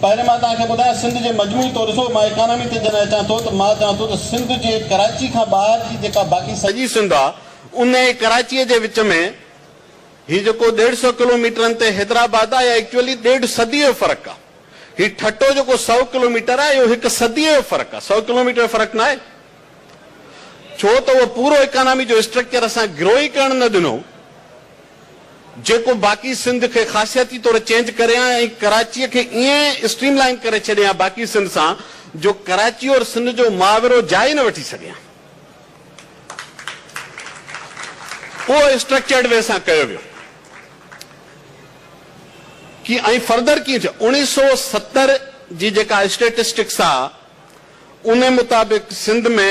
پهرين مان توهان کي ٻڌايان سنڌ جي مجموعي طور ڏسو مان اڪانامي تي جڏهن اچان ٿو ته مان چوان ٿو ته سنڌ جي ڪراچي کان ٻاهر جي جيڪا باقي سڄي سنڌ آ ان ۽ ڪراچي جي وچ ۾ هي جيڪو ڏيڍ سئو ڪلو ميٽرن تي حيدرآباد آ اها ايڪچوئلي ڏيڍ صدي جو فرق آ هي ٺٽو جيڪو سئو ڪلو ميٽر آ اهو هڪ صدي جو فرق آ سئو ڪلو ميٽر جو فرق نه آهي ڇو ته اهو پورو اڪانامي جو اسٽرڪچر اسان گرو ئي ڪرڻ نه ڏنو. جيڪو باقي سنڌ کي خاصياتي طور چينج ڪري ها ۽ ڪراچيء کي ائين اسٽريم لائين ڪري ڇڏي ها باقي سنڌ سان جو ڪراچي اور سنڌ جو محاورو جاء ئي نه وٺي سگهي ها. اهو اسٽرڪچرڊ وي سان ڪيو ويو. ڪي ۽ فردر ڪيئن ٿيو. اوڻيهه سؤ ستر جي جيڪا اسٽيٽسٽڪس آ ان مطابق سنڌ ۾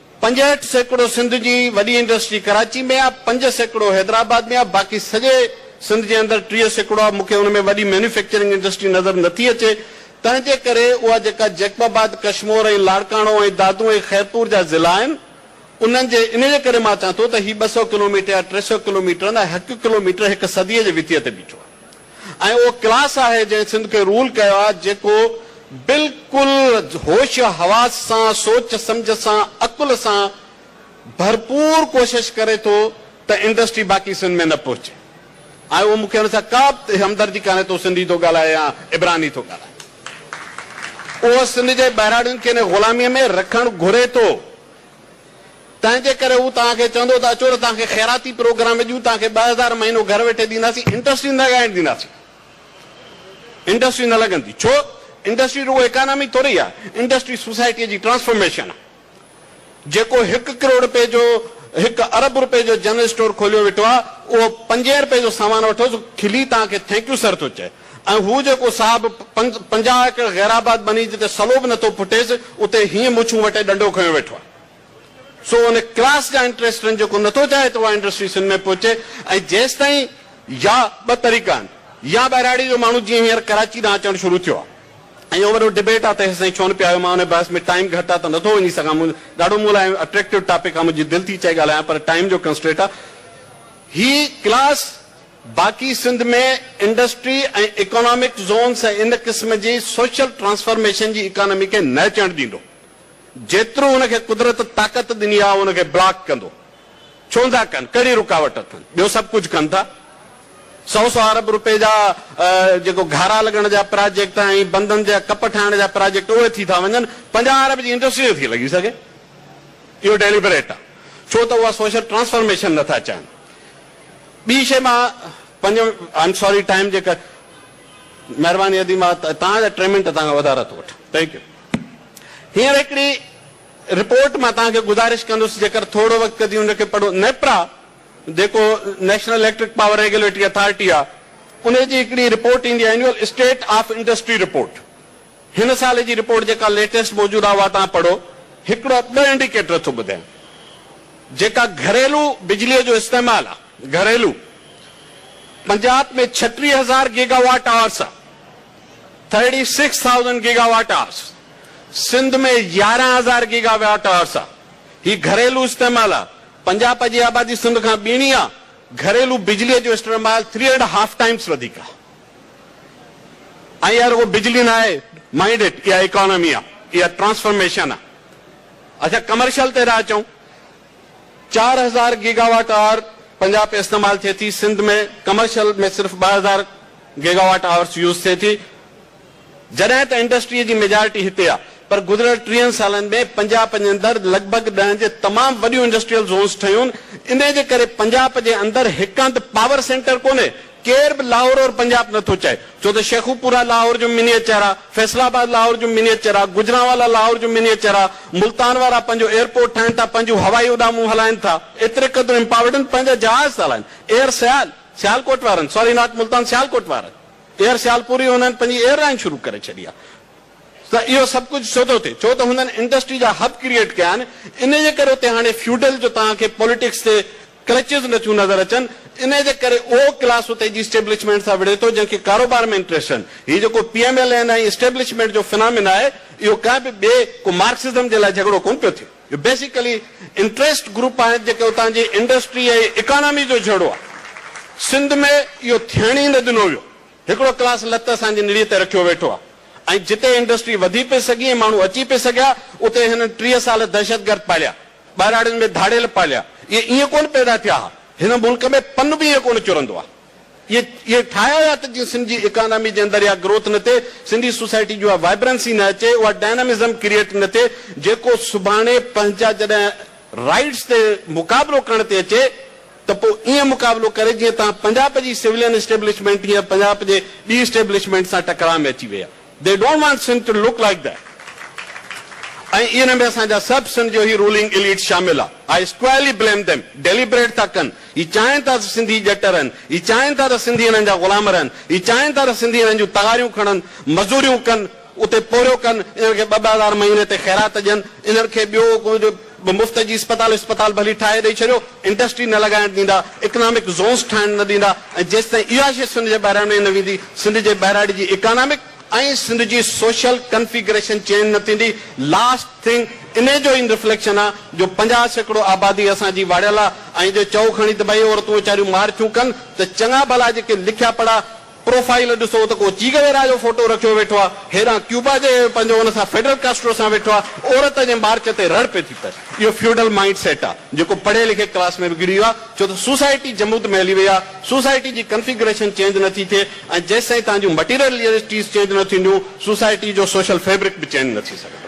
پنجهٺ سيڪڙو سنڌ جي وڏي انڊسٽري ڪراچي ۾ آ، پنج سيڪڙو حيدرآباد ۾ آ، باقي سڄي سنڌ جي اندر ٽيهه سيڪڙو آ، مون کي ان ۾ وڏي مينوفيڪچرنگ انڊسٽري نظر نٿي اچي، تنهن جي ڪري اها جيڪا جيڪب آباد، ڪشمور ۽ لاڙڪاڻو ۽ دادو ۽ خيرپور جا ضلعا آهن، انهن جي ان جي ڪري مان چان ٿو ته هي ٻه سؤ ڪلوميٽر يا ٽي سؤ ڪلوميٽرن ۽ هڪ ڪلوميٽر هڪ صديء جي وتيء تي بيٺو آ، ۽ اهو ڪلاس آهي جنهن سنڌ کي رول ڪيو آهي جيڪو بلڪل هوش و حواس سان سوچ سمجهه سان عقل سان ڀرپور ڪوشش ڪري ٿو ته انڊسٽري باقي سنڌ ۾ نه پهچي ۽ اهو مون کي ان سان ڪا به همدردي ڪانهي ته هو سنڌي ٿو ڳالهائي يا عبراني ٿو ڳالهائي اهو سنڌ جي ٻهراڙين کي ان غلامي ۾ رکڻ گهري ٿو. تنهن جي ڪري هو توهان کي چوندو ته اچو ته توهان کي خيراتي پروگرام ڏيون، توهان کي ٻه هزار مهينو گهر ويٺي ڏينداسين، انڊسٽري نه لڳائڻ ڏينداسين. انڊسٽري نه لڳندي، ڇو؟ انڊسٽري رڳو اڪانامي ٿوري آهي، انڊسٽري سوسائٽيء جي ٽرانسفارميشن آهي. جيڪو هڪ ڪروڙ رپئي جو، هڪ ارب رپئي جو جنرل اسٽور کوليو ويٺو آهي، اهو پنجين رپئي جو سامان وٺوس، کلي توهان کي ٿينڪ يو سر ٿو چئي. ۽ هو جيڪو صاحب پنج پنجاهه ايڪڙ غيرآباد ٻني جتي سلو به نٿو ڦٽيس اتي هيئن مڇون وٽي ڏنڊو کنيو ويٺو آهي سو ان ڪلاس جا انٽريسٽن جيڪو نٿو چاهي ته اها انڊسٽري سنڌ ۾ پهچي ۽ جيستائين يا ٻه طريقا آهن يا ٻهراڙي جو ماڻهو جيئن هينئر ڪراچي ڏانهن اچڻ شروع ٿيو آهي ۽ اهو وڏو ڊبيٽ آهي ته هيستائين ڇو نه پيا آيو مان ان بحث ۾ ٽائيم گهٽ آهي ته نٿو وڃي سگهان مون ڏاڍو مون لاء اٽريڪٽو ٽاپڪ آهي منهنجي دل ٿي چئي ڳالهايان پر ٽائيم جو ڪنسٽريٽ آهي هي ڪلاس باقي سنڌ ۾ انڊسٽري ۽ اڪانامڪ زونس ۽ ان قسم جي سوشل ٽرانسفارميشن جي اڪانامي کي نه اچڻ ڏيندو. جيترو ان کي قدرت طاقت ڏني آهي ان کي بلاڪ ڪندو. ڇو نٿا ڪن؟ ڪهڙي رڪاوٽ اٿن؟ ٻيو سڀ ڪجهه ڪن ٿا. سؤ سؤ ارب روپيه جا جيڪو گهارا لڳڻ جا پراجيڪٽ ۽ بندن جا ڪپ ٺاهڻ جا پراجيڪٽ اهي ٿي ٿا وڃن. پنجاهه ارب جي انڊسٽري نٿي لڳي سگهي. اهو ڊيليبريٽ آهي. ڇو ته اها سوشل ٽرانسفارميشن نٿا چاهن. ٻي شيء مان پنهنجو آئي ايم ساري ٽائيم جي ڪري مهرباني ادي مان توهان جا ٽي منٽ توهان کان وڌارا ٿو وٺان ٿينڪ يو هينئر هڪڙي رپورٽ مان توهان کي گذارش ڪندس جيڪر ٿورو وقت ڪڍي ان کي پڙهو نيپرا جيڪو national electric power regulatory authority آهي ان جي هڪڙي رپورٽ ايندي آهي annual state of industry report هن سال جي رپورٽ جيڪا ليٽيسٽ موجود آهي اها توهان پڙهو. هڪڙا ٻه انڊيڪيٽر ٿو ٻڌايان جيڪا گهريلو بجلي جو استعمال آهي گهريلو پنجاب ۾ ڇٽيهه هزار گيگا واٽ آورس آهي thirty six thousand gigawatt hours Sindh ۾ يارهن هزار گيگا واٽ آورس آهي هي گهريلو استعمال آهي پنجاب جي آبادي سنڌ کان ٻيڻي آهي گهريلو بجلي جو اسٽرمال ٿري اينڊ هاف ٽائمس وڌيڪ آهي. ۽ اها رڳو بجلي نه آهي مائنڊ اٽ اها اڪانامي آ اها ٽرانسفرميشن آ اچا ڪمرشل تي ٿا اچون چار هزار گيگا واٽ آور پنجاب ۾ استعمال ٿئي ٿي سنڌ ۾ ڪمرشل ۾ صرف ٻه هزار گيگا واٽ آورس يوز ٿئي ٿي جڏهن ته انڊسٽريء جي ميجارٽي هتي آ پر گذريل ٽيهن سالن ۾ پنجاپ جي اندر لڳ ڀڳ ڏهن جي تمام وڏيون انڊسٽريل زونز ٺهيون انهي جي ڪري پنجاپ جي اندر هڪ هنڌ پاور سينٽر ڪونهي ڪير به لاهور اور پنجاپ نٿو چئي ڇو ته شيخوپورا لاهور جو منيئچر آ فيصل آباد لاهور جو منيئچر آ گجرانوالا لاهور جو منيئچر آ ملتان وارا پنهنجو ايئرپورٽ ٺاهين ٿا پنهنجون هوائي اڏامون هلائين ٿا ايتري قدر امپاورڊ آهن پنهنجا جهاز ٿا هلائين ايئر سيال سيالڪوٽ وارن سوري ناٽ ملتان سيالڪوٽ وارن. ايئر سيالپور ئي هنن پنهنجي ايئر لائين شروع ڪري ڇڏي آهي ته اهو سڀ ڪجهه ڇو ٿو ٿئي؟ ڇو ته هنن انڊسٽري جا هب ڪريئيٽ ڪيا آهن انهي جي ڪري اتي هاڻي فيوڊل جو توهان کي پوليٽڪس تي ڪلچز نٿيون نظر اچن انهي جي ڪري اهو ڪلاس اتي جي اسٽيبلشمينٽ سان وڙهي ٿو جنهن کي ڪاروبار ۾ انٽريسٽ آهن هي جيڪو P M L N ۽ establishment جو فنامينا آهي اهو ڪنهن به ٻئي ڪو مارڪسزم جي لاء جهڳڙو ڪونه پيو ٿئي. جو بيسيڪلي انٽريسٽ گروپ آهن جيڪي اتان جي انڊسٽري ۽ اڪانامي جو جهيڙو آهي. سنڌ ۾ اهو ٿيڻ ئي نه ڏنو ويو. هڪڙو ڪلاس لت اسان جي نڙي تي رکيو ويٺو آهي ۽ جتي انڊسٽري وڌي پئي سگهي ۽ ماڻهو اچي پئي سگهيا اتي هنن ٽيهه سال دهشتگرد پاليا، ٻهراڙين ۾ ڌاڙيل پاليا. اهي ائين ڪونه پيدا ٿيا ها. هن ملڪ ۾ پن به ائين ڪونه چرندو آهي. اهي ٺاهيا ويا ته جيئن سنڌ جي اڪانامي جي اندر اها گروٿ نه ٿئي، سنڌي سوسائٽي جي اها وائبرنسي نه اچي، اها ڊائنامزم ڪريئيٽ نه ٿئي، جيڪو سڀاڻي پنهنجا جڏهن رائيٽس تي مقابلو ڪرڻ تي اچي ته پوء ائين مقابلو ڪري جيئن تان پنجاب جي سولين اسٽيبلشمينٽ هينئر پنجاب جي ٻي اسٽيبلشمينٽ سان ٽڪراء ۾ اچي وئي آهي. They don't want Sindh to look like that ۽ ان ۾ اسان جا سڀ سنڌ جو هي رولنگ اليٽس شامل آ I squarely blame them Deliberate ٿا ڪن هي چاهين ٿا ته سنڌي ڄٽ رهن هي چاهين ٿا ته سنڌي انهن جا غلام رهن هي چاهين ٿا ته سنڌي انهن جون تغاريون کڻن مزوريون ڪن اتي پورهيو ڪن انهن کي ٻه ٻه هزار مهيني تي خيرات ڏين انهن کي ٻيو ڪجهه به مفت جي اسپتال اسپتال ڀلي ٺاهي ڏئي ڇڏيو انڊسٽري نه لڳائڻ ڏيندا اڪنامڪ زونس ٺاهڻ نه ڏيندا ۽ جيستائين اها شيء سنڌ جي ٻهراڻي نه ويندي سنڌ جي ٻهراڙي جي اڪانامڪ ۽ سنڌ جي سوشل ڪنفيگريشن چينج نه ٿيندي لاسٽ ٿنگ انهي جو ان رفليڪشن آ جو پنجاهه سيڪڙو آبادي اسان جي واڙيل آ ۽ جي چئو کڻي ته ڀئي عورتون ويچاريون مار ڇون ڪن ته چڱا ڀلا جيڪي لکيا پڙها پروفائيل ڏسو ته ڪو چيگه ويرا جو فوٽو رکيو ويٺو آ، هيڏانهن ڪيوبا جي پنهنجو ان سان فيڊل ڪاسٽرو سان ويٺو آ، عورت جي مارچ تي رڙ پئي ٿي پئي. اهو فيوڊل مائينڊ سيٽ آ، جيڪو پڙهي لکي ڪلاس ۾ وگڙي ويو آ، ڇو ته سوسائٽي جمود ۾ هلي وئي آ، سوسائٽي جي ڪنفيگريشن چينج نه ٿي ٿئي ۽ جيستائين تهان جون مٽيريل ليئرٽيز چينج نه ٿينديون، سوسائٽي جو سوشل فيبرڪ به چينج نه ٿي سگهندو.